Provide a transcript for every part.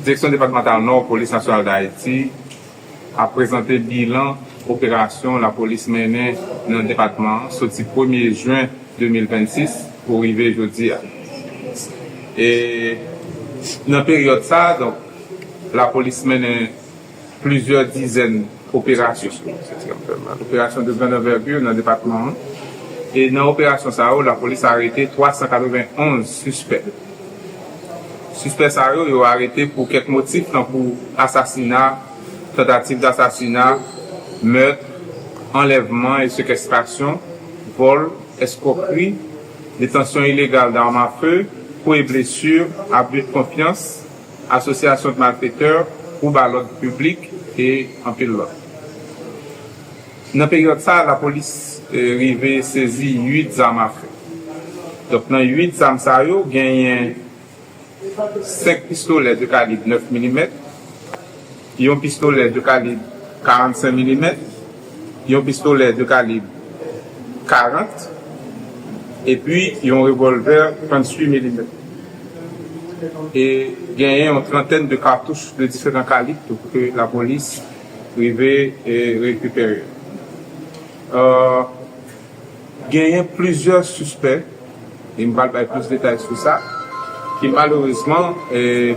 Direksyon Depatmantal Nò Polis Nasyonal Dayiti ap prezante bilan operasyon lapolis mennen nan depatman an soti premye jen 2026 pou rive jodi a. E nan peryòd sa a donk lapolis mennen. Plizyè dizèn operasyon operasyon de grande envergure nan depatman an e nan operasyon sa yo lapolis arete 391 sispè. Sispè sa yo, yo arete pou kèk motif tankou asasina, tantativ dasasina, meurtre, anlèvman e sekèstrasyon, vòl, eskwokri, detansyon ilegal d'arme à feu, kou e blessure, abus de confiance, Asosyasyon de malfektèr, twoub a lòd piblik e anpil lòt. Nan peryòd sa a, lapolis rive sezi 8 zam afe. Donk nan 8 zam sa yo, genyen 5 pistolè de kalib 9 milimèt, Yon pistolè de kalib 45 milimèt, yon pistolè de kalib 40 epi yon revòlvè 38 milimèt. E genyen yon trantèn de katouch de diferan kalib tou ke lapolis rive rekipere. Genyen plizyè sispè, e m pral bay plis detay sou sa, ki malerezman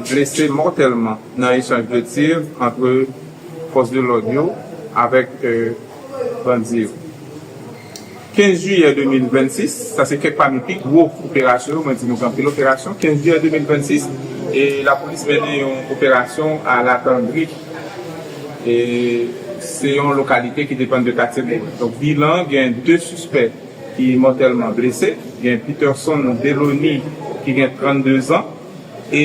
blese mòtèlman nan echanj de tir antre fòs de lòd yo avèk bandi yo. 15 jiyè 2026, sa se kèk pami pi gwo operasyon yo, mwen di nou se anpil operasyon, 15 jiyè 2026, lapolis mennen yon operasyon a Latandri. E se yon lokalite ki depann de katye Bowen. Donk bilan gen 2 sispè ki mòtèlman blese. Gen Peterson Delony ki gen 32 zan e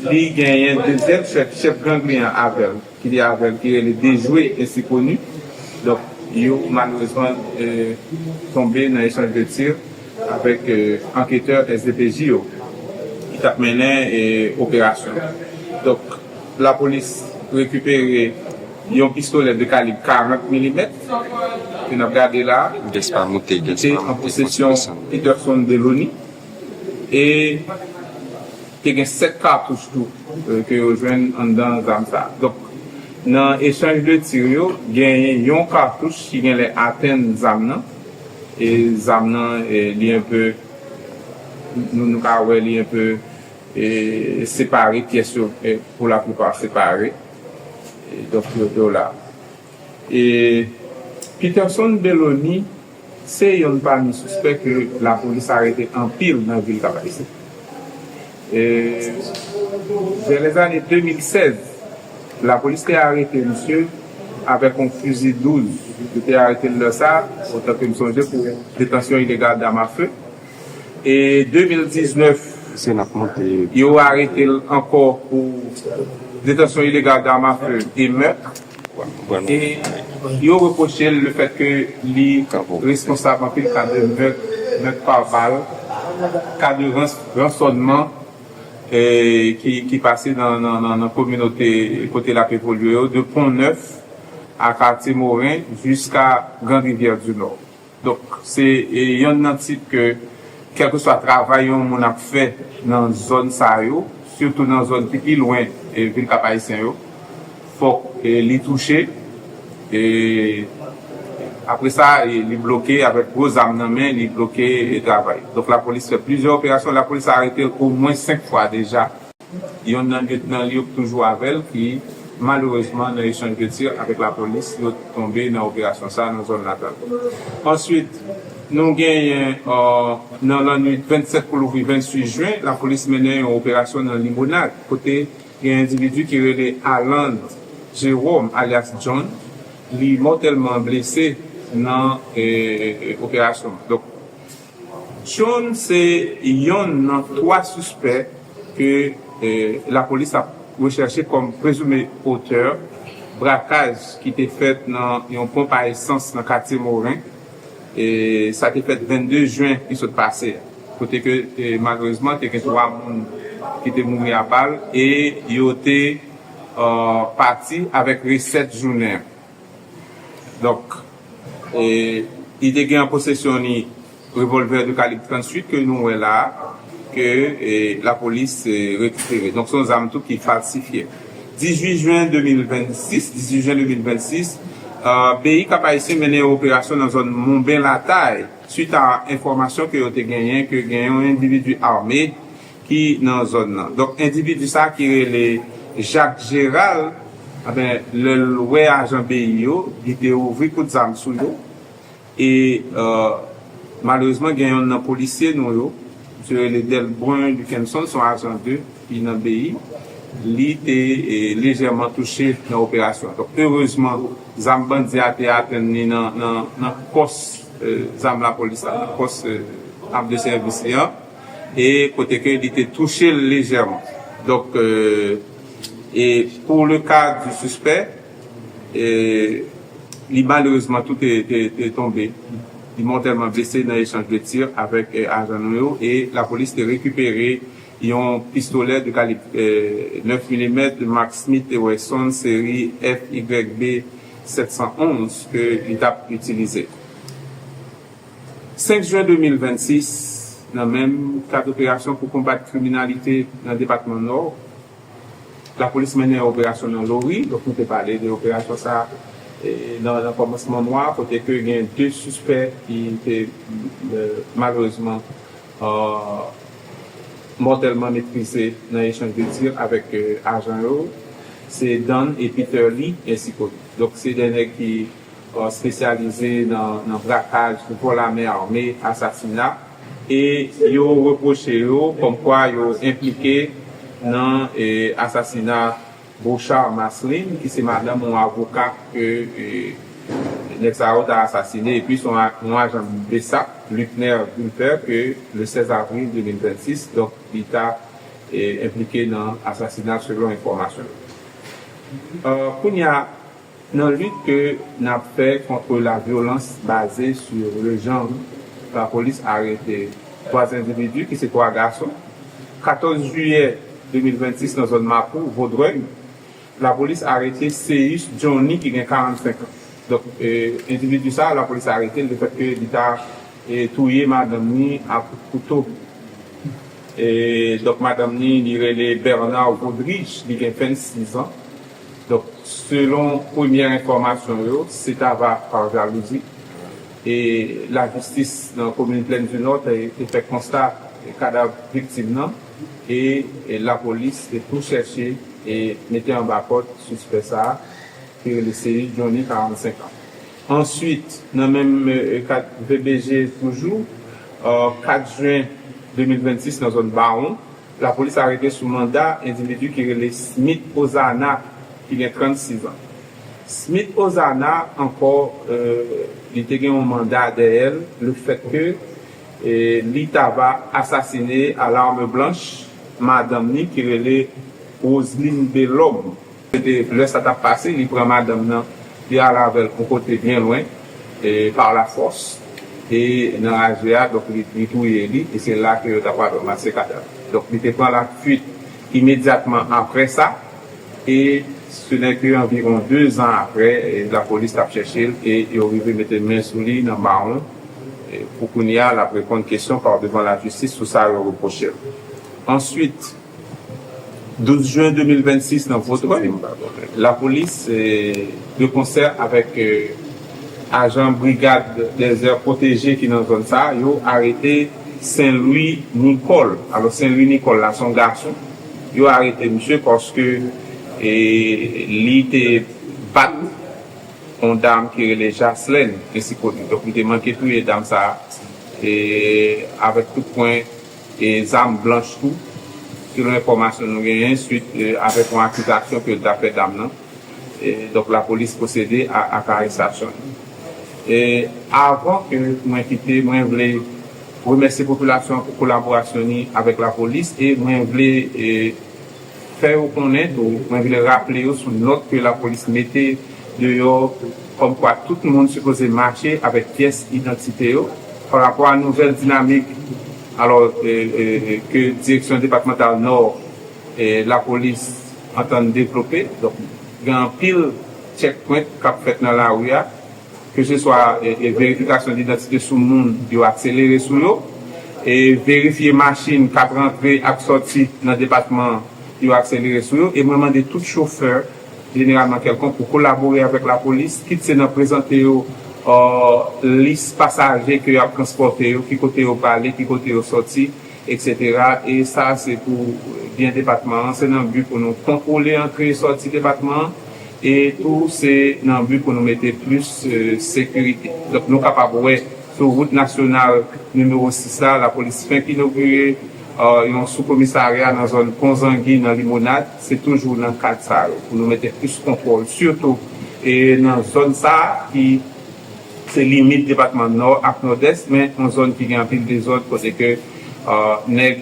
li genyen dezyèm chèf, chèf gang li an avè l, ki li avè l, ki rele Dejwe ensi koni. Donk yo malerezman tonbe nan echanj de tir avèk anketè SDPJ yo ki t ap mennen operasyon an. Donk. Lapolis rekipere yon pistolè de kalib 40 milimèt ke n ap gade la a ki te an posesyon Peterson Delony e te gen 7 katouch tou ke yo jwenn anndan zam sa a. Donk, nan echanj de tir yo, genyen yon katouch ki genlè atenn zam nan e zam nan li enpe, nou ka wè li enpe. Separe pyès yo pou la plipa separe donk yo do la. Peterson Belony se yonn pami sispè ke lapolis arete anpil nan vil Kap Ayisyen. Vè lè zane 2016 lapolis te arete misye avèk yon fizi 12, yo te arete l lè sa otan ke m sonje pou detansyon ilegal dam a fe. E 2019 yo arete l ankò pou detansyon ilegal dam a fe e mèt. E yo repwoche l le fèt ke li responsab anpil ka de mèt, mèt pa bal, ka de ransònman ki pase nan kominote kote l ap evolye yo, de Pon Nèf a Katye Moren jiska Grand Rivyè di Nò. Donk, se yonn nan tit ke kèlkeswa travay yon moun ap fè nan zòn sa yo, sitou nan zòn ki pi lwen vil Kap-Ayisyen yo, fòk li touche. E apre sa, li bloke avèk gwo zam nan men, li bloke travay. Donk, lapolis fè plizyè operasyon. Lapolis arete l omwen senk fwa deja. Yonn nan lyetnan li yo k toujou avè l ki malerezman nan echanj de tir avèk lapolis yo t tonbe nan operasyon sa nan zòn natal. Answit nou genyen nan lannwit 27 pou louvri 28 jwen lapolis mennen yon operasyon nan Limonad kote gen endividi ki rele Aland Jeròm alyas Jhonn li mòtèlman blese nan operasyon an. Cheung se yonn nan 3 sispè ke lapolis ap rechèche kòm prezime otè brakaj ki te fèt nan yon ponp a esans nan katye Morin, sa te fèt 22 jen ki sot pase a, kote ke malerezman te gen 3 moun ki te mouri a bal e yo te pati avèk resèt jounen an. Donk, li te gen an posesyon li revolvè de kalib 38 ke nou wè la a, ke lapolis rekipere. Donk, se yon zam tou ki falsifye. 18 jen 2026, 18 jen 2026, BI Kap-Ayisyen mennen yon operasyon nan zòn Monben Latay, swit a enfòmasyon ke yo te genyen ke gen yon endividi ame, ki nan zòn nan. Donk endividi sa ki rele Jacques Gérald anben lè l wè ajan BI yo li te ouvri kout zam sou yo e malerezman gen yonn nan polisye nou yo misye rele Delbrun Luckenson son ajan de ki nan BI li te lejèman touche nan operasyon an. Donk erezman zam bandi a te atenn li nan pòs zam lapolis la nan pòs ap de sèvis li an. e kote ke li te touche l lejèman. Donk, e pou le ka di sispè, e li malerezman tou te tonbe, li mòtèlman blese nan echanj de tir avèk ajan nou yo e lapolis te rekipere yon pistolè de kalib 9 milimèt mak Smith & Wesson seri FYB 711 ke li t ap itilize. 5 jen 2026, nan menm kad operasyon pou konbat kriminalite nan depatman Nò, lapolis mennen yon operasyon nan Lori, donk nou te pale de operasyon sa nan kòmansman mwa a kote ke gen 2 sispè ki te malerezman mòtèlman metrize nan echanj de tir avèk ajan yo, se Dan e Peter Lee ensi kod. Donk se 2 nèg ki. spesyalize nan brakaj pou kò lame ame asasina e yo repwoche yo kòmkwa yo enplike nan asasina Beauchard Marceline ki se madanm yon avoka ke nèg sa yo ta asasine epi son yon ajan bsap Luckner Gulpher ke le 16 avril 2026 donk li ta enplike nan asasina selon enfòmasyon yo kounya. Nan lit ke n ap fè kontre lavyolans baze sou lejann, lapolis arete 3 endividi ki se 3 gason, 14 jiyè 2026 nan zòn Mapou, Vodrèg, lapolis arete Céus Johnny ki gen 45 an. Donk, endividi sa a lapolis arete l lefètke li ta touye madanm ni ak kouto. Donk, madanm ni, li rele Bernard Godrige, li gen 26 an. Donk, selon premyè enfòmasyon yo, se ta va pa jalouzi e lajistis nan komin Plèn di Nò te fè konsta kadav viktim nan e lapolis te tou chèche e mete anba kòd sispè sa a ki rele Seyi Jhonny 45 an. Answit, nan menm kad VBJ toujou, 4 jen 2026 nan zòn Bawon, Lapolis arete sou manda endividi ki rele Smith Ozana ki gen 36 an. Smith Ozana ankò li te gen yon manda dèyè l le fèt ke li ta va asasine a l'arme blanche madanm ni ki rele Roseline Belhomme. Se te lè sa t ap pase, li pran madanm nan, li al avè l yon kote byen lwen, e pa lafòs, e nan raje a, donk li touye li, e se la ke yo ta pral ranmase kadav li. Donk li te pran lafuit imedyatman apre sa, e se nè ke anviwon dezan apre, lapolis t ap chèche l, e yo rive mete men sou li nan Mawon, e pou kounye a l ap reponn kesyon pa w devan lajistis sou sa yo repwoche l. Ansuit. 12 jen 2026 nan Votrèy, lapolis de konsè avèk ajan brigad dèzè pwoteje ki nan zòn sa a, yo arete Senlwi Nikòl. Alò Senlwi Nikòl la se yon gason, yo arete misye paske li te bat yon dam ki rele Jaslèn Esikote. Donk li te manke touye dam sa a avèk kout pwen. e zam blanch tou, selon enfòmasyon nou genyen, swit avèk yon akizasyon ke l ta fè dam nan. Donk lapolis pwosede ak arestasyon li. E avan ke mwen kite, mwen vle remèsye popilasyon an pou kolaborasyon ni avèk lapolis e mwen vle. Fè yo konnen tou, mwen vle raple yo sou nòt ke lapolis mete deyò kòmkwa tout moun sipoze mache avèk pyès idantite yo, pa rapò a nouvèl dinamik alò ke Direksyon Depatmantal Nò lapolis antann devlope. Donk gen anpil tchèkpwent k ap fèt nan lari a. keseswa verifikasyon didantite sou moun yo akselere sou yo, verifye machin k ap rantre ak sòti nan depatman yo akselere sou yo e mwen mande tout chofè, jeneralman kèlkonk, pou kolabore avèk lapolis, kit se nan prezante yo lis pasaje ke y ap transpòte yo, ki kote yo prale, ki kote yo sòti. Etc e sa se pou byen depatman an, se nan bi pou nou kontwole antre e sòti depatman an e tou se nan bi pou nou mete plis sekirite. Donk nou kapab wè sou wout nasyonal nimewo 6 la, lapolis fenk inogire yon sou komisarya nan zòn pon zangi nan limonad, se toujou nan kad sa yo pou nou mete plis kontwòl sitou e nan zòn sa ki. Se limit depatman Nò ak Nòdès men yon zòn ki gen anpil dezòd kote ke nèg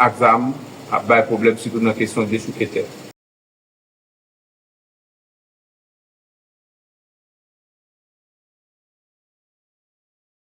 ak zam ap bay pwoblèm sitou nan kesyon dechouke tè.